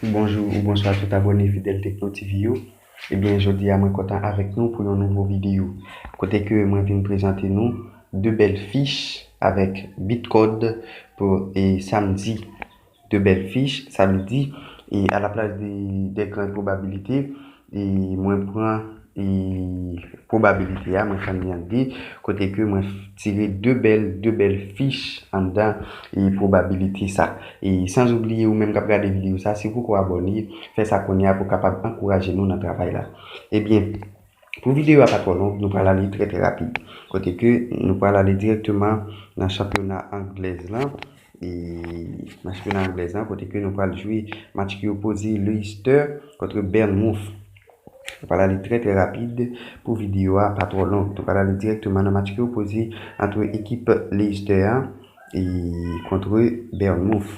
Bonjou ou bonswa tout abòne fidèl Tekno TV yo, ebyen jodi a mwen kontan avèk nou pou yon nouvo videyo kote ke mwen vin prezante nou 2 bèl fich avèk Bitcode pou samdi 2 bèl fich samdi e a la plas de 2 gran pwobabilite E mwen pran e pwobabilite a, mwen fè li an 2, kote ke mwen tire 2 bèl, 2 bèl fich anndan e pwobabilite sa. E sans oubliye ou menm k ap gade videyo sa, si ou poko abòne, fè sa kounye a pou w kapab ankouraje nou nan travay la. Ebyen, pou videyo a pa twò long, nou pral ale trè trè rapid. Kote ke nou pral ale dirèkteman nan chanpyona anglèz lan. E nan chanpyona anglèz lan kote ke nou pral jwe match ki opoze Leicester kontre Bournemouth. Nou pral ale trè trè rapid pou videyo a pa twò long. Nou pral ale dirèkteman nan match ki opoze antre ekip Leicester an e kontre Bournemouth.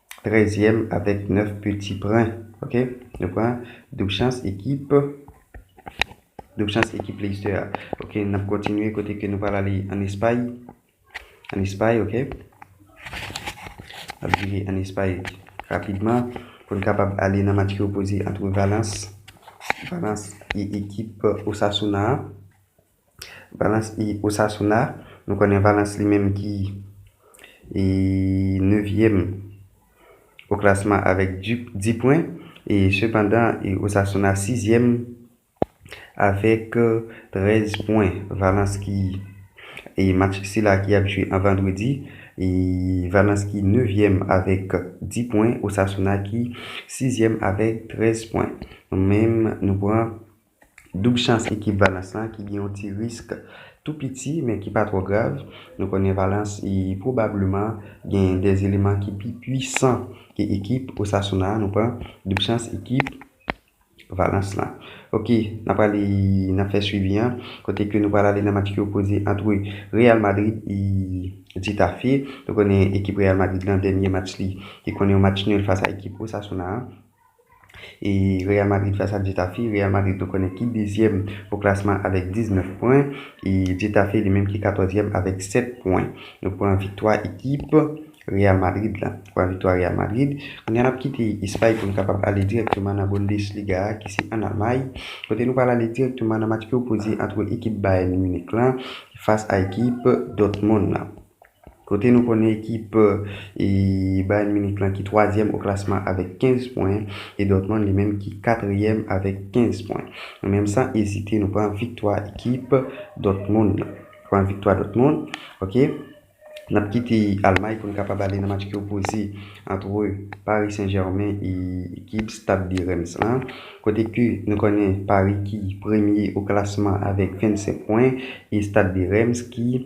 trèzyèm avèk nèf piti pwen. Ok, nou pran doub chans ekip doub chans ekip Leicester a. Ok, n ap kontinye kote ke nou pral ale an Espay. An Espay, ok. N ap vire an Espay rapidman pou n kapab ale nan match ki opoze antre Valence Valence e ekip Osasuna a. Valence e Osasuna, nou konnen Valence li menm ki e 9 yèm o klasman avèk 10 pwen e sepandan e Osasuna 6 yèm avèk 13 pwen. Valence ki e match sila ki ap jwe an vandredi e Valence ki 9 yèm avèk 10 pwen, Osasuna ki 6 yèm avèk 13 pwen. Nou menm nou pran. Doub chans ekip Valence lan ki gen yon ti risk tou piti men ki pa twò grav. Nou konnen Valence pwobableman gen 2 eleman ki pi pwisan ke ekip Osasuna an. Nou pran doub chans ekip Valence lan. Ok, n ap ale n ap fè swivi an kote ke nou pral ale nan match ki opoze ant Real Madrid e Getafe. Nou konnen ekip Real Madrid lan dènye match li te konnen yon match nul fas a ekip Osasuna an. E Real Madrid fas a Getafe, Real Madrid nou konnen ki dezyèm o klasman avèk 19 pwen, e Getafe li menm ki katòzyèm avèk 7 pwen. Nou pran viktwa ekip Real Madrid la. Pran viktwa Real Madrid. Kounye a n ap kite Espay pou nou kapab ale dirèkteman nan Bundesliga a ki se ann Almay, kote nou pral ale dirèkteman nan match ki opoze antre ekip Bayern Munich lan fas a ekip Dortmund lan. Kote nou konnen ekip Bayern Munich lan ki twazyèm o klasman avèk 15 pwen e Dortmund li menm ki katriyèm avèk 15 pwen. Nou menm san ezite nou pran viktwa ekip Dortmund lan. Pran viktwa Dortmund ok. N ap kite Almay pou n kapab ale nan match ki opoze antre Paris Saint Germain e ekip Stade de Reims lan. Kote ke nou konnen Paris ki premye o klasman avèk 25 pwen e Stade de Reims ki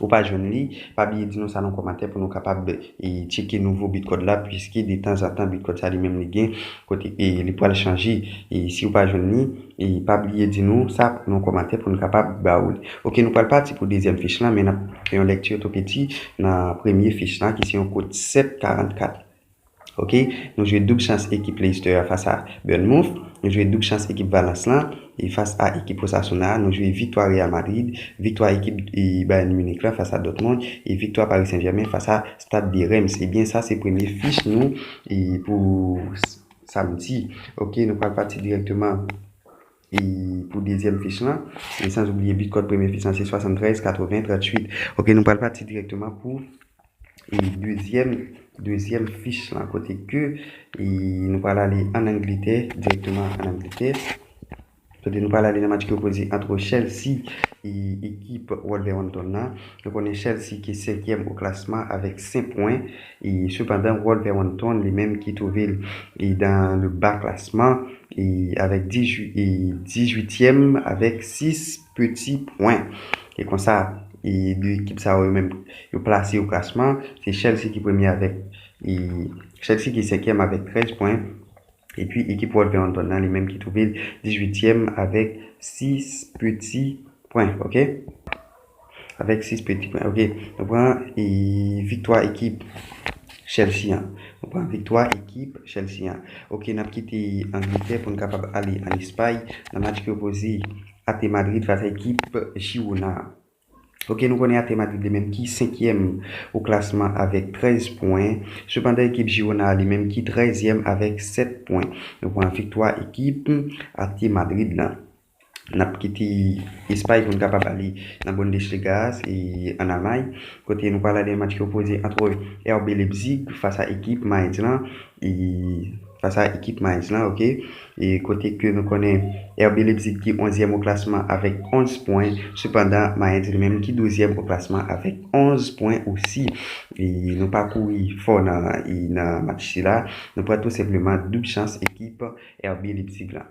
Ou pa jwenn li? Pa bliye di nou sa nan kòmantè pou nou kapab tcheke nouvo Bitcode la puiske de tan zan tan Bitcode sa li menm li gen kote li pwal chanje. Si ou pa jwenn li, pa bliye di nou sa nan kòmantè pou nou kapab ba ou li. Ok nou pwal pati pou dezyèm fich lan men nap fè yon lèkti otopedi nan premye fich lan ki se yon kod 744. Ok nou jwe doub chans ekip Leicester a fas a Bournemouth nou jwe doub chans ekip Valence lan e fas a ekip Osasuna a nou jwe viktwa Real Madrid viktwa ekip Bayern Munich lan fas a Dortmund e viktwa Paris Saint Germain fas a Stade de Reims ebyen sa se premye fich nou pou Samedi ok nou pral pati direkteman. E pou dezyèm fich lan, e sans oubliye bit kòd premye fich lan se 73 80 38. Ok nou pral pati dirèkteman pou e dezyèm dezyèm fich lan kote ke e nou pral ale an Angletè dirèkteman an Angletè. Kote nou pral ale nan match ki opoze antre Chelsea e ekip Wolverhampton lan. Nou konnen Chelsea ki senkyèm o klasman avèk 5 pwen. Sepandan, Wolverhampton, li menm ki twouve l dan le ba klasman avèk dizuityèm avèk sis peti pwen. E konsa, de ekip sa yo yo menm yo plase yo klasman. Se Chelsea ki premye avèk Chelsea ki senkyèm avèk trèz pwen. Epi ekip Wolverhampton nan li menm ki twouve l dizuityèm avèk sis peti pwen. Ok. Avèk 6 pèdi pwen ok. Nou pran viktwa ekip Chelsea an. Nou pran viktwa ekip Chelsea an. Ok n ap kite Angletè pou n kapab ale an Espay nan match ki opoze AP Madrid fas a ekip Girona an. Ok nou konnen AP Madrid li menm ki senkyèm o klasman avèk 13 pwen. Sepandan ekip Girona a li menm ki trèzyèm avèk 7 pwen. Nou pran viktwa ekip AP Madrid lan. N ap kite Espay pou n ka pa pale nan Bundesliga a, se an Almay kote nou pral ale nan match ki opoze antre RB Leipzig fas a ekip Mainz lan e fas a ekip Mainz lan ok e kote ke nou konnen RB Leipzig ki onzyèm o klasman avèk 11 pwen sepandan Mainz li menm ki douzyèm o klasman avèk 11 pwen osi e nou pa kouri fò nan nan match sila nou pran tou senpleman doub chans ekip RB Leipzig lan.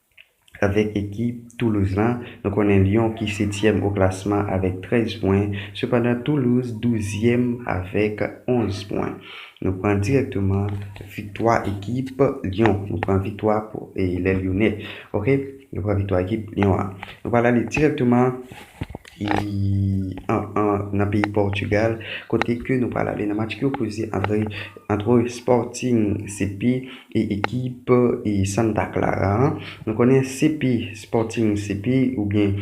Avèk ekip Toulouse lan, nou konnen Lyon ki setyèm o klasman avèk 13 pwen, sepandan Toulouse douzyèm avèk 11 pwen. Nou pran dirèkteman viktwa ekip Lyon. Nou pran viktwa pou les Lyonnais. Ok, nou pran viktwa ekip Lyon an. Nou pral ale dirèkteman. nan peyi Portugal kote ke nou pral ale nan match ki opoze antre Sporting CP e ekip Santa Clara an. Nou konnen CP, Sporting CP oubyen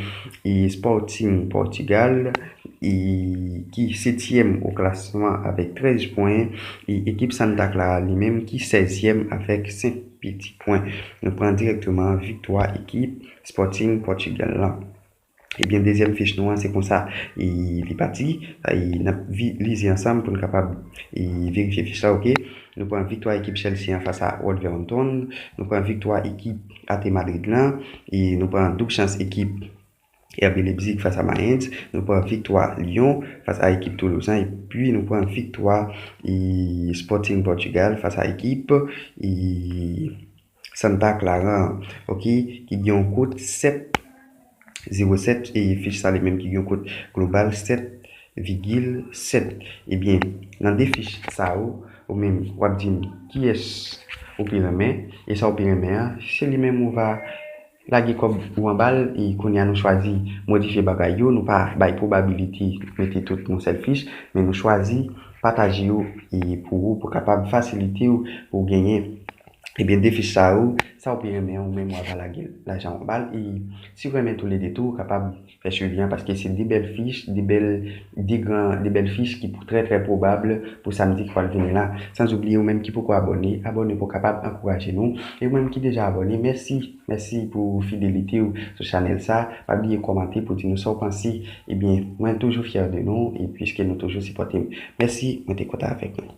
Sporting Portugal ki 7 tièm o klasman avèk 13 pwen e ekip Santa Clara li menm ki 16 tièm avèk 5 piti pwen. Nou pran direkteman viktwa ekip Sporting Portugal lan. Ebyen dezyèm fich nou an se konsa li pati n ap vize ansanm pou n kapab verifye fich la ok nou pran viktwa ekip Chelsea an fas a Wolverhampton nou pran viktwa ekip Ate Madrid lan nou pran doub chans ekip RB Leipzig fas a Mayens nou pran viktwa Lyon fas a ekip Toulouse an epi nou pran viktwa Sporting Portugal fas a ekip Santa Clara an ok ki gen yon kot 7 0 7 e fich sa li menm ki gen yon kot global 7 vigil 7 ebyen nan 2 fich sa yo ou menm wap dim kiyès ou pi renmen e sa ou pi renmen an se li menm ou va Lage kob ou anbal e kounya nou chwazi modifye bagay yo nou pa bay probability mete tout yon sel fich men nou chwazi pataje yo e pou ou pou kapab fasilitew pouw genyen ebyen 2 fich sa yo sa ou pi renmen ou menm wava lagel lajan ou anbal e siw renmen tou lede tou ou kapab Fè swivi an paske se 2 bèl fich, 2 bèl, 2 gran, 2 bèl fich ki pou trè trè pwobab pou samdi ki pwal vini la. San oubliye ou menm ki poko abòne, abòne pou kapab ankouraje nou. E ou menm ki deja abòne, mèsi, mèsi pou fidelite ou sou chanèl sa. Pa bliye kòmante pou di nou sa ou panse. Ebyen, mwen toujou fyè de nou e piske nou toujou sipòte m. Mèsi, mwen te kontan avèk nou.